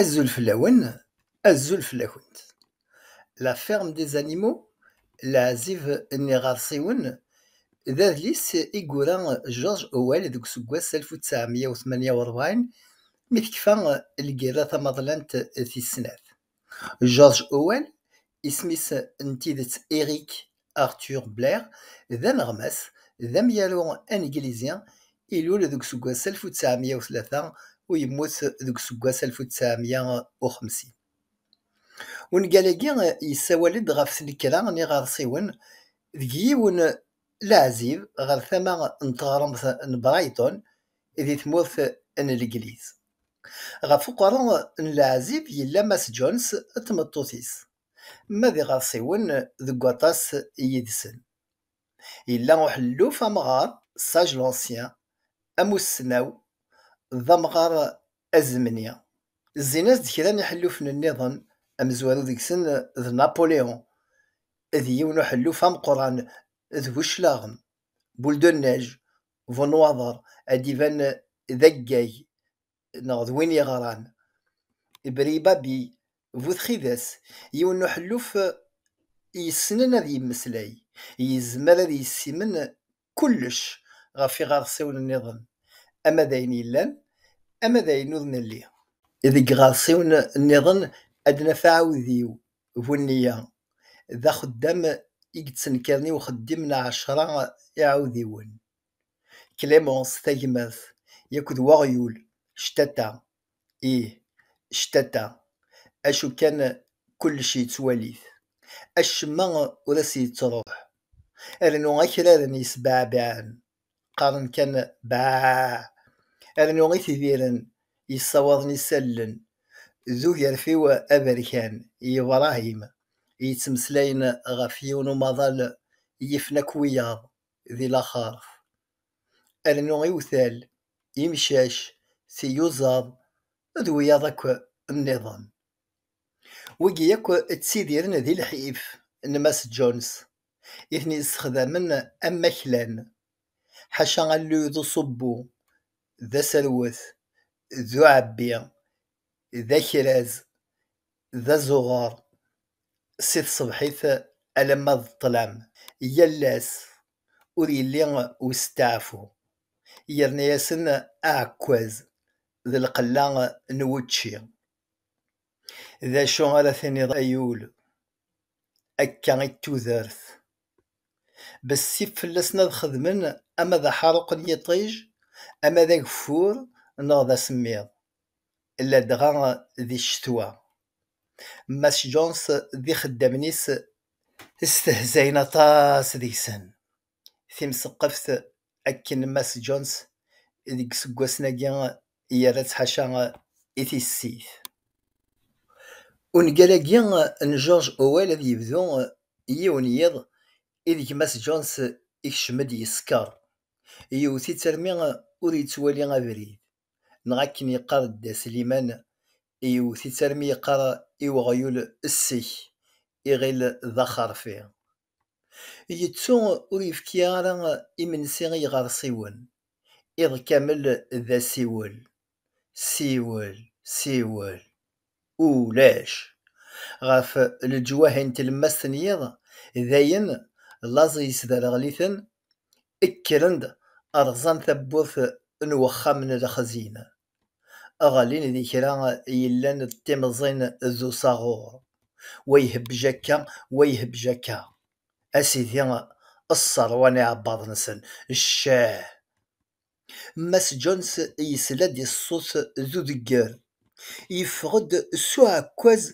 Azul fell-awen, azul fell-akent. La ferme des animaux, Leɛzib n yiɣersiwen, d adlis i yura George Orwell deg useggas alef u ttɛemya u tmanya u ṛebɛin Mi tekfa lgirra tamaḍlant tis snat, George Howell, isem-is n tidet Eric Arthur Blair, d aneɣmas d amyaru aneglizi, ilul deg useggas alef u tesεemya u tlata u yemmut deg useggas alef u tesεemya u xemsin. Ungal-agi yessawal-d ɣef tnekra n yiɣersiwen deg yiwen n leɛzib ɣer tama n teɣremt n Brighton, di tmurt n Legliz. Ɣef uqerru n leɛzib yella Mass Jones d tmeṭṭut-is, ma d iɣersiwen deg waṭas yid-sen. Yella uḥelluf amɣar, sage l'ancien, amussnaw, d amɣar azemni. Zzin-as-d kra n yiḥellufen-nniḍen, amezwaru deg-sen d Napoléon, d yiwen uḥelluf ameqqran d bu cclaɣem. boule de neige bu nnwaḍer ad d-iban d aggag neɣ d win yeɣran ibribabi bu txidas yiwen n uḥelluf yessnen ad yemmeslay yezmer ad yessimen kullec ɣef iɣersiwen nniḍen ama d ayen yellan ama d ayen ur nelli. Deg iɣersiwen nniḍen ad naf aɛudiw Bu nniya, d axeddam i yettenkaden i uxeddim n ɛecra iɛudiwen. Clémence, tagmert, yak d weɣyul, ctata, ih, ctata, acu kan kullec yettwali-t, acemma ur as-yettruḥ, rnu akraren yesbeɛbiɛen. qqaren kan baaah, rnu i t-idiren yessawaḍen isallen d ugerfiw aberkan i Ibrahim yettmeslayen ɣef yiwen umaḍal yifen akk wiyaḍ di laxert, rnu iwtal, imcac, tiyuzaḍ d wiyaḍ akk nniḍen. Wigi akk ttidiren di lḥif n Mass Jones. i ten-yessexdamen am maklan, ḥaca alluy d uṣubbu, d aserwet, d uɛebbi, d akraz, d azuɣer, si tṣebḥit alamma d ṭṭlam, yal ass, ur yelli usteɛfu, yerna-yasen aɛekkaz d lqella n wučči. D acu ara tiniḍ ay ul, akka i tudert. Bessif fell-asen ad xedmen ama d aḥaruq n yiṭij, ama d ageffur neɣ d asemmiḍ, ladɣa di ccetwa. Mass Jones d ixeddamen-is stehzayen aṭas deg-sen. timseqqeft akken Mass Jones deg yiseggasen-agi yerra-tt ḥaca i tissit. Ungal-agi n George Owell ad yebdu yiwen yiḍ ideg Mass Jones ikcem-d yeskeṛ, yewwet-itt armi ur yettwali abrid, neɣ akken yeqqar Dda Sliman, yewwet-itt armi yeqqar i weɣyul ssek, iɣil d axerfi. Yettu ur yefki ara imensi i yiɣersiwen, iḍ kamel d asiwel, siwel, siwel, ulac. Ɣef leǧwahi n tlemmast n yiḍ, dayen laẓ yesderɣel-iten, kkren-d, rẓan tawwurt n wexxam n lexzin. aɣalin di kra yellan d timẓin d usaɣur, wa ihebbej akka, wa ihebbej akka, a sidi sserwan iɛebbaḍ-nsen, ccah! Mass Jones yesla-d i ṣṣut d udegger, yeffeɣ-d s uɛekkaz,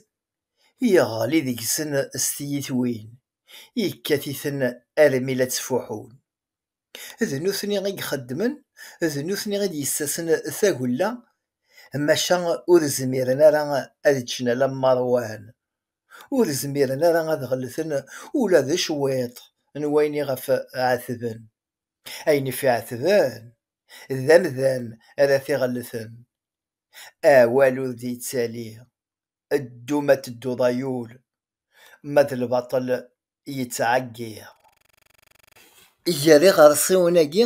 yeɣli deg-sen s tyitwin, yekkat-iten armi la ttfuḥun. d nutni i ixeddmen, d nutni i d-yessasen tagella, maca ur zmiren ara ad ččen alamma ṛwan, ur zmiren ara ad ɣellten ula d cwiṭ n wayen iɣef ɛetben. Ayen iɣef ɛetben, d amdan ara t-iɣellten. Awal ur d-yettali, ddu ma tedduḍ ay ul, ma d lbaṭel yettɛeggiḍ. Gar iɣersiwen-agi,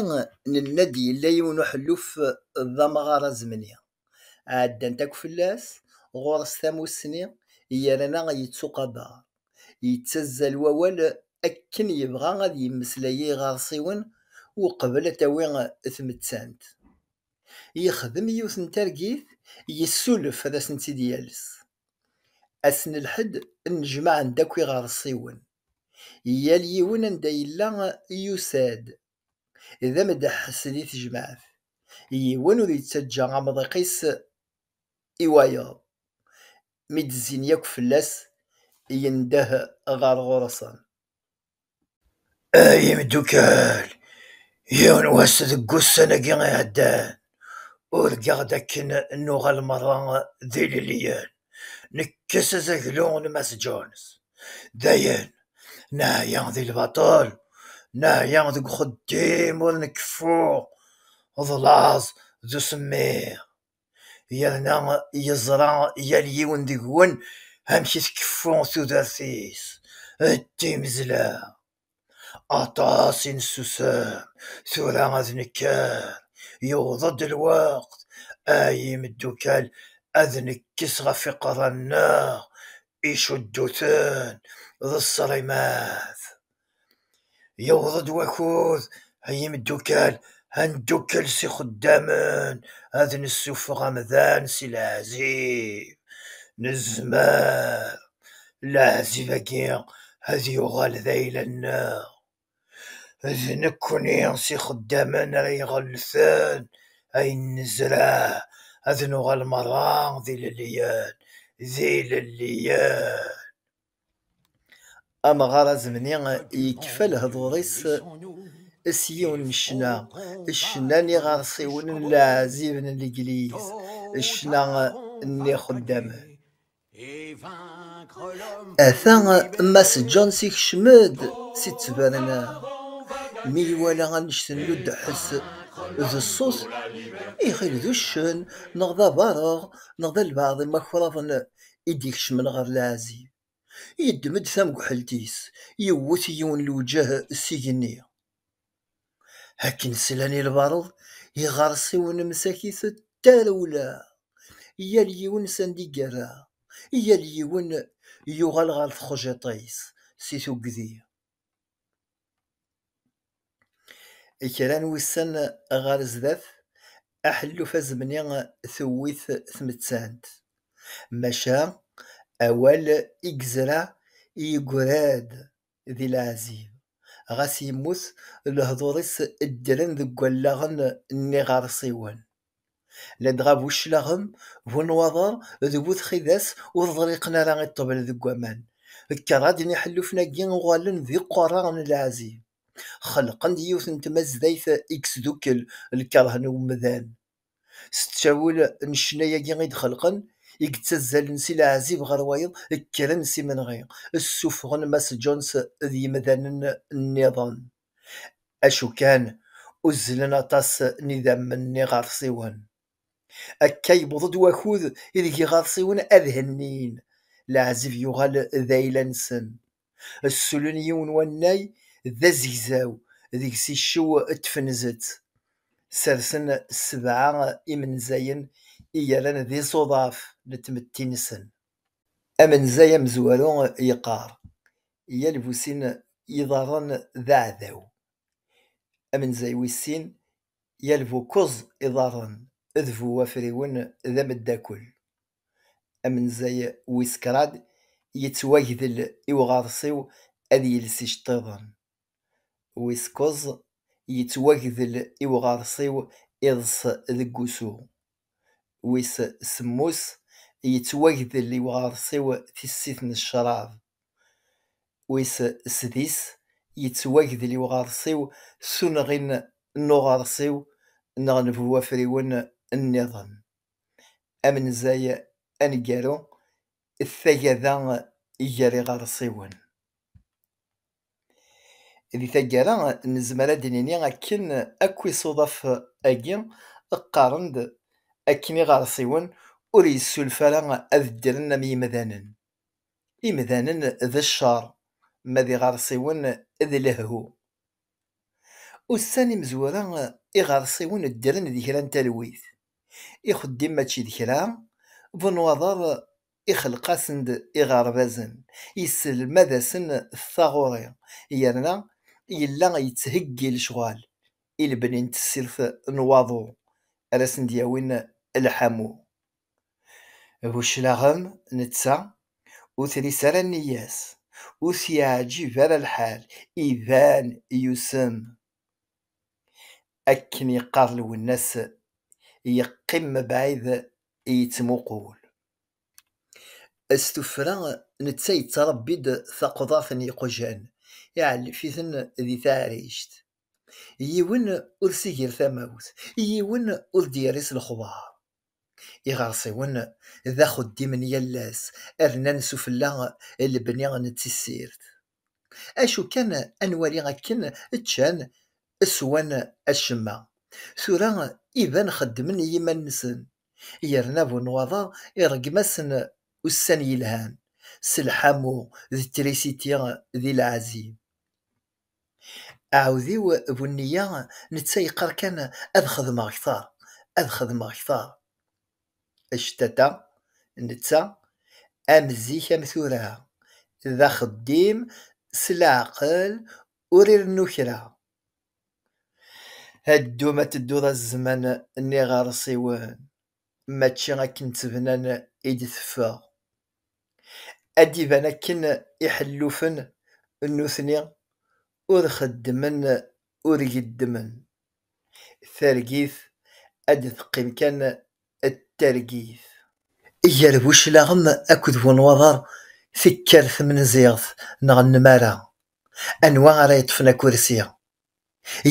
nenna-d yella yiwen uḥelluf d amɣar azemni, ɛeddant akk fell-as, ɣur-s tamussni, yerna yettuqabaṛ, yettazzal wawal akken yebɣa ad yemmeslay i yiɣersiwen uqbel ad tawi tmettant. Yexdem yiwet n targit, yessulef ad asen-tt-id-yales, Ass n lḥedd, nnejmaɛen-d akk iɣersiwen. Yal yiwen anda yella yusa-d. D ameddeḥḥes di tejmaɛt. Yiwen ur yettaǧǧa amḍiq-is i wayeḍ. Mi d-zzin yakk fell-as, yendeh ɣer ɣur-sen. Ay imeddukkal, yiwen n wass deg wussan-agi iɛeddan, urgaɣ-d akken nuɣal merra d ilelliyen, nekkes azaglu n Mass Jones. Dayen, neɛya di lbaṭel, neɛya deg uxeddim ur nkeffu, d laẓ d usemmiḍ. yerna yeẓra yal yiwen deg-wen amek i tkeffu tudert-is d timezla. Aṭas i nessusem, tura ad nekker, yewweḍ-d lweqt ay imeddukal ad nekkes ɣef iqerra-nneɣ icudduten d ṣṣrimat. Yewweḍ-d wakud, ay imeddukkal, ad neddukel s ixeddamen, ad nessufeɣ amdan si leɛzib. Nezmer leɛzib-agi ad yuɣal d ayla-nneɣ. D nekkni s ixeddamen ara iɣellten ayen nezreɛ, ad nuɣal merra d ilelliyen, d ilelliyen. Amɣar azemni yekfa lehdur-is s yiwen n ccna, ccna n yiɣersiwen n leɛzib n legliz, ccna n yixeddamen. Ata Mass Jones ikcem-d si ttberna, mi iwala annect n ludeḥs d ṣṣut, iɣil d uccen neɣ d abareɣ neɣ d albeɛḍ imakṛaben i d-ikecmen ɣer leɛzib, yeddem-d tamguḥelt-is, yewwet yiwen lewǧeh s igenni. Akken slan i lbareḍ, iɣersiwen msakit tarewla, yal yiwen s anda i yerra, yal yiwen yuɣal ɣer txejjiṭ-is si tuggdi. Kra n wussan ɣer sdat, aḥelluf azemni tewwi-t tmettant, maca awal i yezra yeggra-d di leɛzib, ɣas yemmut lehdur-is ddren deg wallaɣen n yiɣersiwen. ladɣa bu cclaɣem, bu nnwaḍer d bu txidas ur ḍriqen ara i ṭṭbel deg waman. Kraḍ n yiḥellufen-agi uɣalen d iqerra n lɛezzi. Xelqen-d yiwet n tmazdayt i yesdukkel lkerh n umdan. S ttawil n ccna-agi i d-xelqen, i yettazzalen si leɛzib ɣer wayeḍ, kkren s imenɣi, ssufɣen Mass Jones d yimdanen nniḍen. acu kan uzzlen aṭas n idammen n yiɣersiwen. Akka yewweḍ-d wakud ideg iɣersiwen ad hennin, leɛzeb yuɣal d ayla-nsen. Ssulen yiwen wannay d azegzaw, deg-s iccew tfenzet. Sersen sebɛa imenzayen i yerran d iẓuḍaf n tmetti-nsen. Amenzay amezwaru yeqqar, yal bu sin yiḍarren d aɛdaw. Amenzay wis sin, yal bu kuẓ iḍarren d bu wafriwen d ameddakel. Amenzay wis krad, yettwagdel i uɣersiw ad yels iceṭṭiḍen. Wis kuẓ, yettwagdel i uɣersiw iḍes deg wusu. wis semmus, yettwagdel i uɣersiw tissit n ccrab, wis sdis, yettwagdel i uɣersiw s unɣi n uɣersiw neɣ n bu wafriwen nniḍen, amenzay aneggaru d tagada gar iɣersiwen. Di taggara, nezmer ad d-nini akken akk isuḍaf-agi qqaren-d akken iɣersiwen ur yessulef ara ad ddren am yimdanen. Imdanen d ccer, ma d iɣersiwen d lehhu. Ussan imezwura, iɣersiwen ddren d kra n talwit, ixeddim mačči d kra, bunwaḍer ixelleq-asen-d iɣerbazen, yesselmad-asen taɣuri, yerna yella yettheggi lecɣal i lebni n tessirt n waḍu ara asen-d-yawin lḥamu. Bu cclaɣem, netta ur tris ara nneyya-s, ur t-yeɛǧib ara lḥal, iban yusem. Akken yeqqar Lwennas, yeqqim mebɛid i yettmuqul. S tuffra, netta yettṛebbi-d taqḍaṭ n yiqjan, iɛellef-iten di taɛrict. Yiwen ur s-iger tamawt, yiwen ur d-yerri s lexbar. Iɣersiwen d axeddim n yal ass, rnan sufella lebni n tissirt. Acu kan ad nwali akken ččan, swan acemma. Tura iban xeddmen i yiman-nsen, yerna bu nnwaḍa ireggem-asen ussan yelhan, s lḥamu d trisiti d lɛezzi. Aɛudiw bu nniya netta yeqqar kan ad xedmeɣ kter, ad xedmeɣ kter. actata netta am zik am tura d axeddim s leɛqel ur irennu kra ad ddum ad tedduḍ a zzman n iɣersiwen mačči akken ttebnan i d-teffeɣ ad d-iban akken iḥellufen nutni ur xeddmen ur geddmen. Targit ad d-teqqim kan d targit. Gar buclaɣem akked wenwaḍer tekker tmenziɣt neɣ nnmara, anwa ara yeṭṭfen akursi?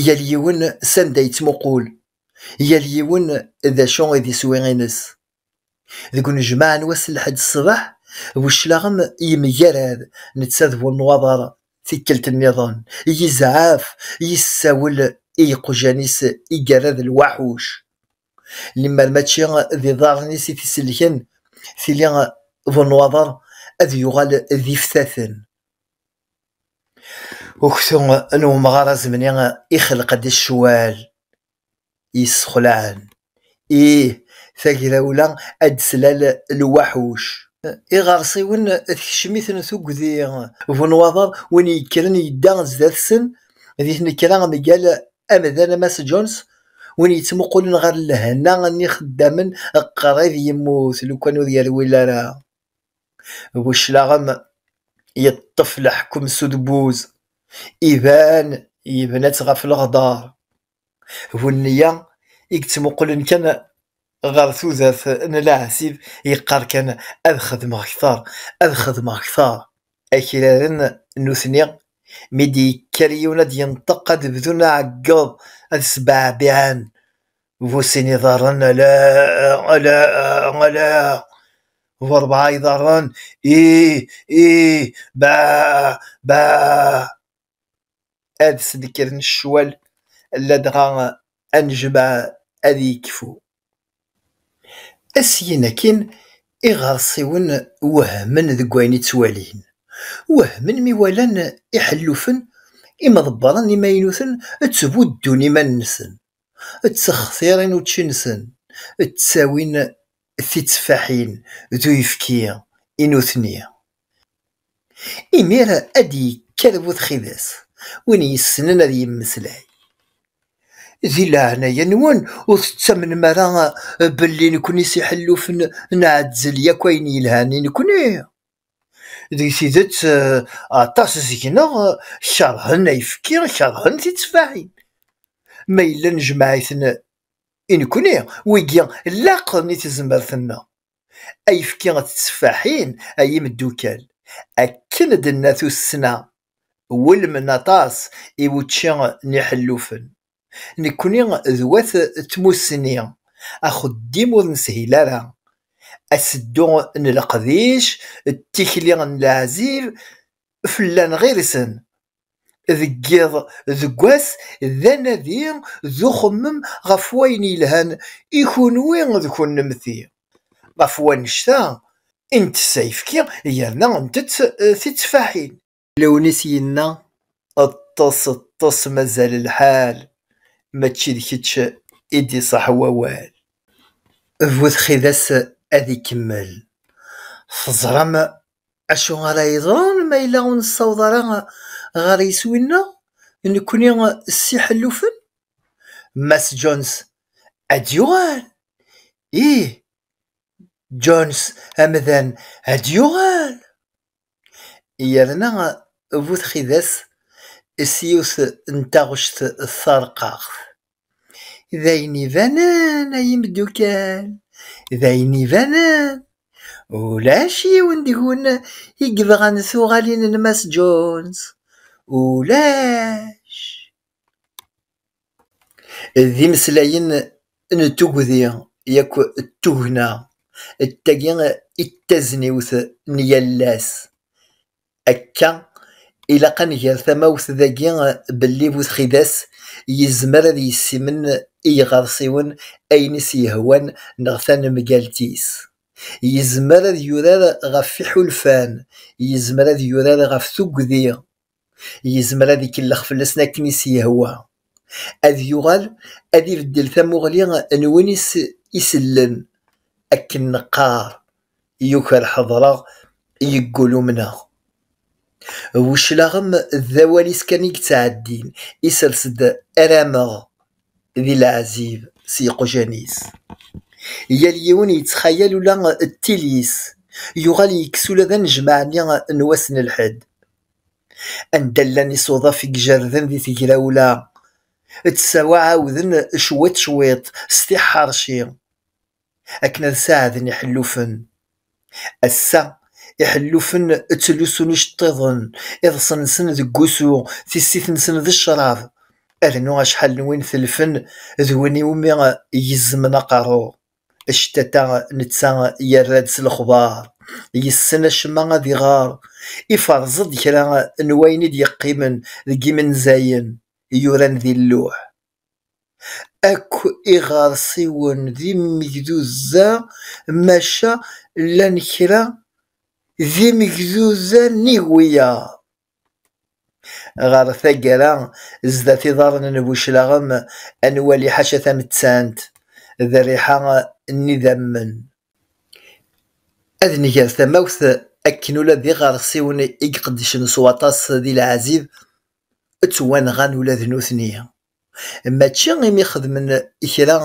Yal yiwen s anda yettmuqul, yal yiwen d acu i d iswi-ines. Deg unejmaɛ n wass n lḥedd ṣṣbeḥ, bu cclaɣem yemgarad netta d bu nnwaḍer, tikkelt nniḍen, yezɛef, yessawel i yiqjan-is i yerra d lwaḥuc. Lemmer mačči d iḍarren-is i t-isellken, tili bu nnwaḍer ad yuɣal d iftaten. Uktu n umɣar azemni ixelleq-d ccwal. yessexlaɛen. Ih, tagrawla ad d-slal lwaḥuc. Iɣersiwen tekcem-iten tugdi. Bunwaḍar, win yekkren yedda zdat-sen di tnekra mgal amdan Mass Jones, win yettmuqulen ɣer lehna n yixeddamen qrib yemmut lukan ur yerwil ara. Bu cclaɣem yeṭṭef leḥkem s udebbuz, iban yebna-tt ɣef leɣdar. Bu nniya i yettmuqulen kan ɣer tudert n leɛzib, yeqqar kan ad xedmeɣ kter, ad xedmeɣ kter. Akraren nutni mi d-yekker yiwen ad d-yenṭeq ad bdun aɛeggeḍ, ad sbeɛbiɛen bu sin iḍarren ala ala ala bu rebɛa iḍarren i i ba ba ad snekren ccwal ladɣa anejmaɛ ad yekfu syin akin iɣersiwen wehmen deg wayen i ttwalin wehmen mi walan iḥellufen imḍebbren imaynuten ttbuddun iman-nsen ttextiṛen učči-nsen, ttawin titteffaḥin d uyefki i nutni. Imir ad d-yekker bu txidas, win yessnen ad yemmeslay. Di leɛnaya-nwen ur tettamnem ara belli nekni s iḥellufen nɛezzel yakk ayen yelhan i nekni? Deg tidet, aṭas seg-neɣ keṛhen ayefki, keṛhen titteffaḥin. Ma yella nejmeɛ-iten i nekkni, wigi laqen i tezmert-nneɣ. Ayefki d tetteffaḥin, ay imeddukal, akken d-tenna tussna, wulmen aṭas i wučči n iḥellufen. Nekkni d wat tmussni, axeddim ur neshil ara, aseddu n leqdic d tikli n leɛzib fell-aneɣ irsen. Deg yiḍ deg wass d anadi d uxemmem ɣef wayen yelhan i kunwi d kunemti, ɣef wannect-a i ntess ayefki yerna ntett tittfaḥin. Lewnis yenna, Ṭṭes, ṭṭes mazal lḥal, mačči d kečč i d-iṣaḥ wawal. Bu txidas ad ikemmel. Teẓram acu ara yeḍrun ma yella ur nessaweḍ ara ɣer yiswi-nneɣ, nekkni s iḥellufen? Mass Jones ad d-yuɣal? Ih, Jones amdan ad d-yuɣal. yerna bu txidas s yiwet n taɣect tarqaɣt, D ayen ibanen, ay imeddukal, d ayen ibanen, ulac yiwen deg-wen i yebɣan tuɣalin n Mass Jones. Ulac! D imeslayen n tugdi yak d tugna d tagi i d tazniwt n yal ass. Akka ilaq ad nger tamawt dagi belli bu txidas yezmer ad yessimen i yiɣersiwen ayen i s-yehwan neɣ tanemgalt-is. Yezmer ad yurar ɣef iḥulfan, yezmer ad yurar ɣef tugdi. yezmer ad ikellex fell-asen akken i s-yehwa, ad yuɣal ad ibeddel tamuɣli n win i s-isellen, akken neqqar, yuker ḥeḍreɣ, yeggul umneɣ. Weclaɣem d awal-is kan i yettɛeddin, isers-d arameɣ di leɛzib s yeqjan-is. Yal yiwen yettxayal ula d tili-s, yuɣal yekkes ula d anejmaɛ-nni n wass n lḥedd, Anda llan isuḍaf i ijerden di tegrawla, ttsawa ɛawden cwiṭ cwiṭ s tiḥḥerci akken ad saɛden iḥellufen. Ass-a, iḥellufen ttlusun iceṭṭiḍen, iḍes-nsen deg wusu, tissit-nsen d ccrab, rnu acḥal n win telfen d win iwumi gezzmen aqerru. Actata netta yerra-d s lexbar, yessen acemma ad iɣer, iferreẓ-d kra n wayen i d-yeqqimen deg yimenzayen yuran di lluḥ. Akk iɣersiwen d imegduza maca llan kra d imegduza n igwiyaḍ. Ɣer taggara, zdat iḍarren n Buclaɣem, ad nwali ḥaca tamettant d rriḥa n idammen. Ad nger tamawt akken ula d iɣersiwen i iqeddcen s waṭas di leɛzib, ttwanɣan ula d nutni. Mačči imi xedmen kra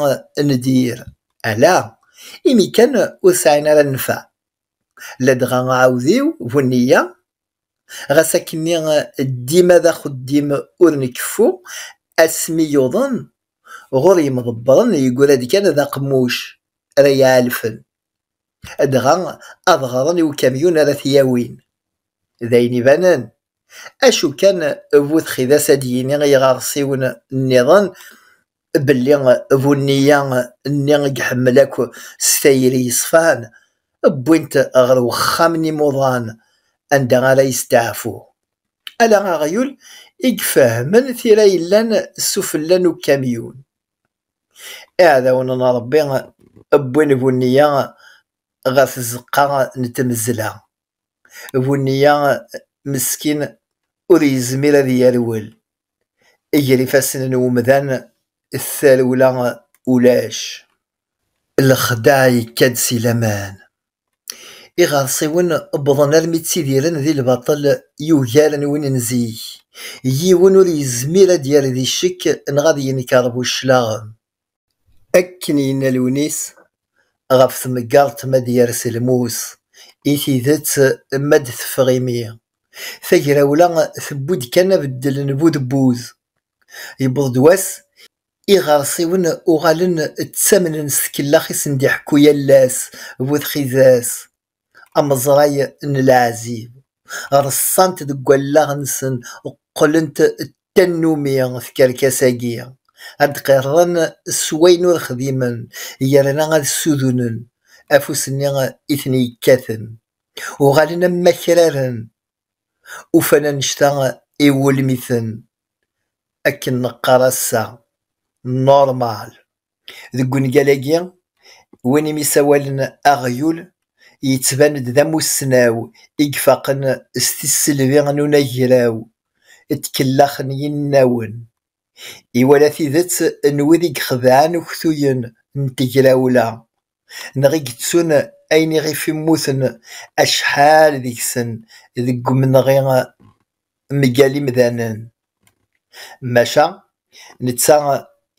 n dir, ala imi kan ur sɛin ara nnfeɛ. Ladɣa aɛudiw bu nniya, ɣas akkenni dima d axeddim ur nkeffu, asmi yuḍen ɣur yimḍebbren yeggra-d kan d aqemmuc ara yi-ɛalfen, dɣa ad ɣren i ukamyun ara t-yawin. D ayen ibanen, acu kan bu txidas ad d-yini i yiɣersiwen nniḍen belli bu nniya nni i iḥemmel akk s tayri yeṣfan, wwin-t ɣer wexxam n imuḍan anda ara yesteɛfu. Ala aɣyul i ifehmen tira yellan s ufella n ukamyun. Iɛdawen n Ṛebbi wwin bu nniya ɣer tzeqqa n tmezzla. Bunniya meskin ur yezmir ad yerwel, ger ifassen n umdan d tarewla ulac. Lexdeɛ yekka-d si laman. Iɣersiwen wwḍen armi ttidiren di lbaṭel yugaren win n zik. Yiwen ur yezmir ad d-yerr di ccek neɣ ad yenker bu cclaɣem. Akken yenna Lewnis ɣef tmeggaḍt ma ad yers lmus i tidet ma ad teffeɣ imi, tagrawla tewwi-d kan abeddel n bu debbuz. Yewweḍ-d wass iɣersiwen uɣalen ttamnen s tkellax i sen-d-iḥekku yal ass bu txidas. ameẓray n leɛzib, reṣṣant deg wallaɣ-nsen qqlent d tannumi tkerkas-agi, ad d-qirren s wayen ur xdimen yerna ad ssudunen afus-nni i ten-yekkaten, uɣalen am wakraren ufan annect-a i wulmiten, akken neqqar ass-a, normal. Deg wungal-agi, win i m-isawalen aɣyul yettban-d d amussnaw i ifaqen s tisselbi n unagraw d tkellax n yinawen. Iwala tidet n wid i ixedɛen uktuyen n tegrawla neɣ i yettun ayen iɣef mmuten acḥal deg-sen deg umenɣi mgal imdanen. Maca netta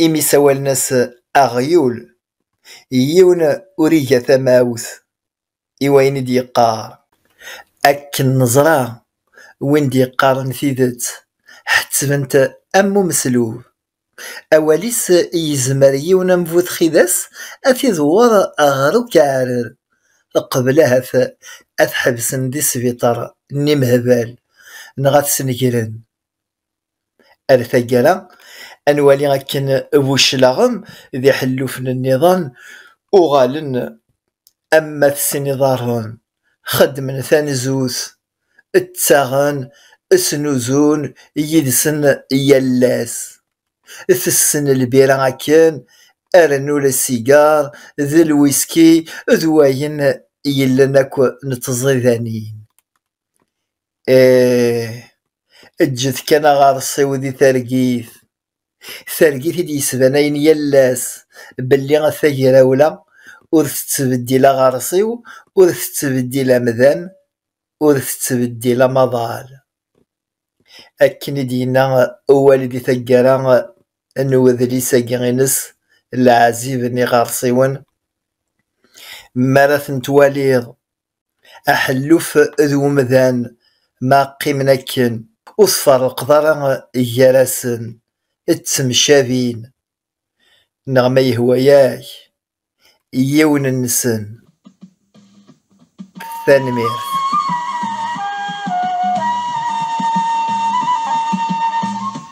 imi ssawalen-as aɣyul, yiwen ur iga tamawt. i wayen i d-yeqqar. Akken neẓra, win d-yeqqaren tidet, ḥettben-t am umeslub. Awal-is yezmer yiwen am bu txidas ad t-idewwer ɣer ukeɛrer, qbel ahat ad t-ḥebsen di sbiṭer n imehbal neɣ ad t-snegren. Ar taggara, ad nwali akken Buclaɣem d iḥellufen-nniḍen uɣalen am ma tessin iḍarren, xeddmen tanzut, ttaɣen, snuzun yid-sen yal ass. Tessen lbira akken, rnu lsigar d lwiski d wayen yellan akk n tẓidanin. Eh, eǧǧet kan aɣersiw di targit, targit i d-yesbanayen yal ass belli tagrawla ur tettbeddil aɣersiw, ur tettbeddil amdan, ur tettbeddil amaḍal. Akken i d-yenna Uwali di taggara n udlis-agi ines Leɛzib n iɣersiwen, mi ara ten-twaliḍ aḥelluf d umdan ma qqimen akken, ur tferreqeḍ ara gar-asen, ttemcabin, neɣ ma yehwa-ak yiwen-nsen. Tanemmirt.